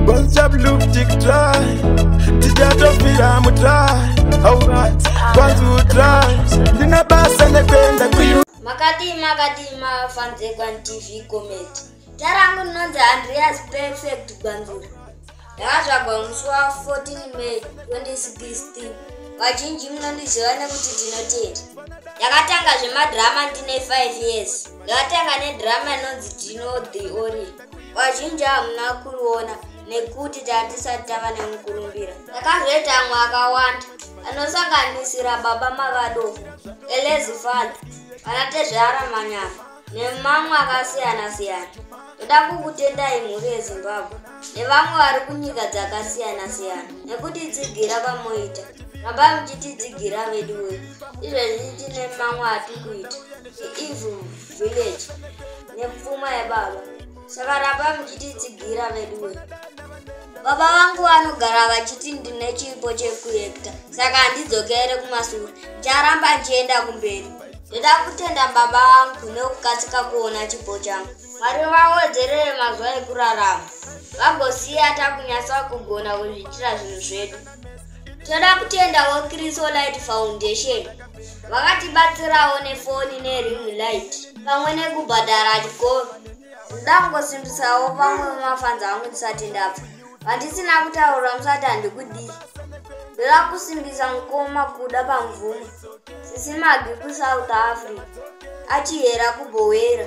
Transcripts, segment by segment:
Bonza blue tick try Tijato fira mu try Alright Kwanzu try Ndina basa nekwenda kuyu Makati makati ma fans ekwan TV comment Tarangu nonze Andreas perfect Gwanzura Ndakazvagwa musi wa 14 May 2016. Vazhinji munondiziva nekuti Tinotenda. Ndakatanga zvemadrama ndine 5 years. Ndakatanga nedrama inonzi Tino the Ori. Vazhinji hamuna kuriona nekuti tatisati tava nemukurumbira. Ndakazoita amwe akawanda anosanganisira Baba Mavadofo, Elezi Fala, vanatezvara Manyama. nemamwe akasiyana-siyana. Toda kukutendai mhuri yeZimbabwe nevamwe vari kunyika dzakasiyana-siyana nekuti tsigira kwamoita. Ramba muchititsigira vedu we. Izvezvi tine mamwe atikuita. Evil Village. Nepfuma yebaba. saka ramba muchititsigira veduwe baba vangu vanogara vachiti ndine chipo chekuekta saka handidzokere kumasure ndicharamba ndichienda kumberi ndoda kutenda baba vangu nekukasika kuona chipo changu mwari vawedzerere mazuva ekurarama vagosiya takunyatsa kugona kuzviitira zvinhu zvedu toda kutendawo crisolight foundation vakatibatsirawo nefoni nering light pamwe nekubhadhara chikoro ndoda kungosimbisawo vamwe vemafanzi angu ndisati ndabva vandisina kutaura musati handikudii ndoda kusimbisa mukoma kuda pamvumo sisimagi kusouth africa achihera kubhowera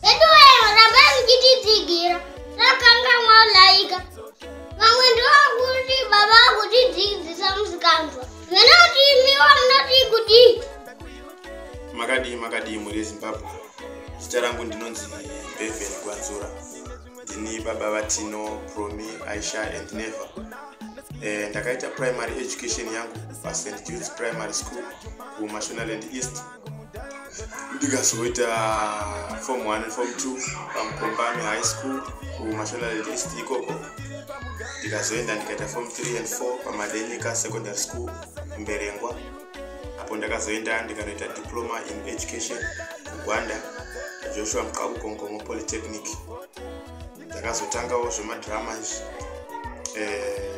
Veduwero rambai muchititsigira rakangamwa laika vamwe ndovakuti baba vakutidzidzisa musikanzwa venoti imiwa munoti kuti makadii makadii mhuri yezimbabwe zita rangu ndinonzi beven gwanzura ndini baba vatino promi aisha and never eh, ndakaita primary education yangu pasent juts primary school kumashonaland east ndikazoita form 1 and form 2 pamukombani high school kumashonaland east ikoko ndikazoenda ndikaita form 3 and 4 pamadenyika secondary school mberengwa apo ndakazoenda ndikanoita diploma in education kugwanda joshua mqakukongomo polytechnic ndakazotangawo zvemadrama izvi eh,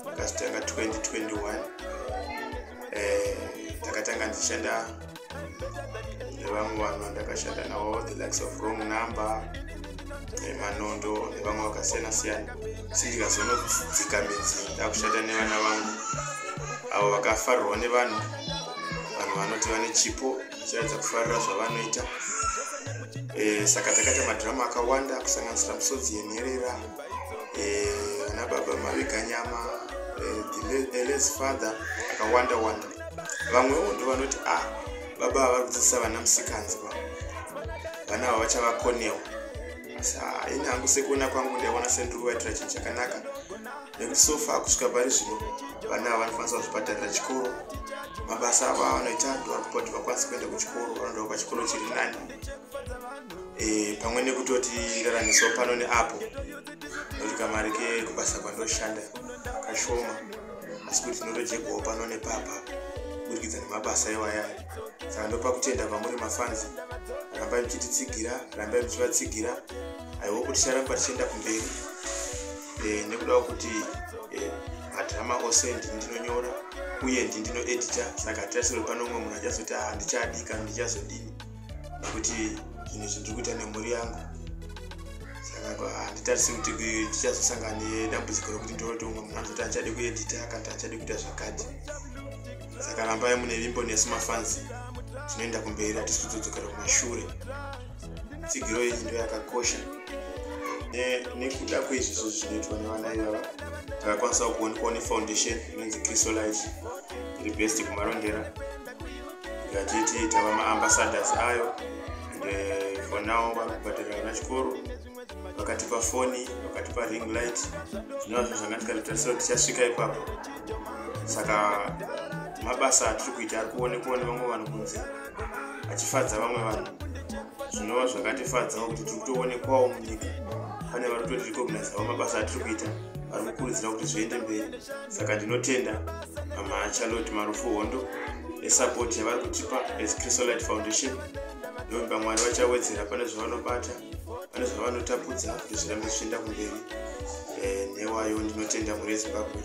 ndakazotanga 2021 eh, ndakatanga ndichishanda nevamwe vanhu vandakashanda navo the likes of wrong number nemanondo nevamwe vakasiyana siyana asi ndikazonodzika midzi ndakushanda nevana vangu avo vakafarirwa nevanhu vanhu vanoti vane chipo vachiratidza kufarira zvavanoita eh, saka takaita madhirama akawanda kusanganisira misodzi yenherera eh, ana baba mavika nyama eles eh, father akawanda wanda vamwewo ndo vanoti a ah, baba ava kudzidzisa vana musikanzi va vana ava vachavakonewo asi haini hangu sekuona kwangu ndaiona sendiruvaitira chinhu chakanaka nekuti sofa kusvika pari zvino vana ava vanokwanisa kuzvibhadharira chikoro mabasa avo avanoita ndovari kupa kuti vakwanise kuenda kuchikoro vanoda pachikoro chiri nani e, pamwe nekutoti ndaraniso pano neapo nokuti kamari kekubasa kwandoshanda kashoma asi kuti ndinotojegwawo pano nepapa kuburikidza nemabasa iwaya saka ndopa kutenda kwamuri mafanzi rambai muchititsigira rambai muchivatsigira aiwo kuti charamba tichienda kumberi e, nekudawo kuti e, madrama ose ndini ndinonyora uye ndini ndinoedita saka hatisasiri pano umwe munhu achazoti handichadika ndichazodini nekuti zvinhu zvindiri kuita nemhuri yangu saka handitarise kuti tichazosangana nedambudziko rekuti ndoroti umwe munhu anozoti achade kuedita akati achade kuita zvakati saka rambai mune vimbo nesu mafanzi tinoenda kumberi hatisi kudzodzokera kumashure tsigiro iyi ndo yakakosha nekuda kweizvi zvo zvinoitwa nevana ivava takakwanisawo kuonekwawo nefoundation inonzi chrisolite iri best kumarondera ngatiti tava maambassadors ayo and eh, for now vari kubhadhara vana chikoro vakatipa foni vakatipa ring light zvinova zvinhu zvanga tikatotarisira kuti tichasvika ipapo saka mabasa atiri kuita ari kuonekwa nevamwe vanhu kunze achifadza vamwe vanhu zvinova zvakatifadzawo kuti tiri kutoonekwawo munyika pane vari kutoti recognizavo mabasa atiri kuita vari kukurudzira kuti zviende mberi saka ndinotenda amacharlotte marufu hondo esapoti yavari kutipa as chrisolite foundation ndomba mwari vachawedzera pane zvavanobata pane zvavanotapudza kuti zvirambe zvichienda kumberi eh, newayo ndinotenda mhuri yezimbabwe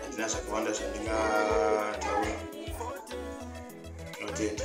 handina zvakawanda zvandingataura ndinotenda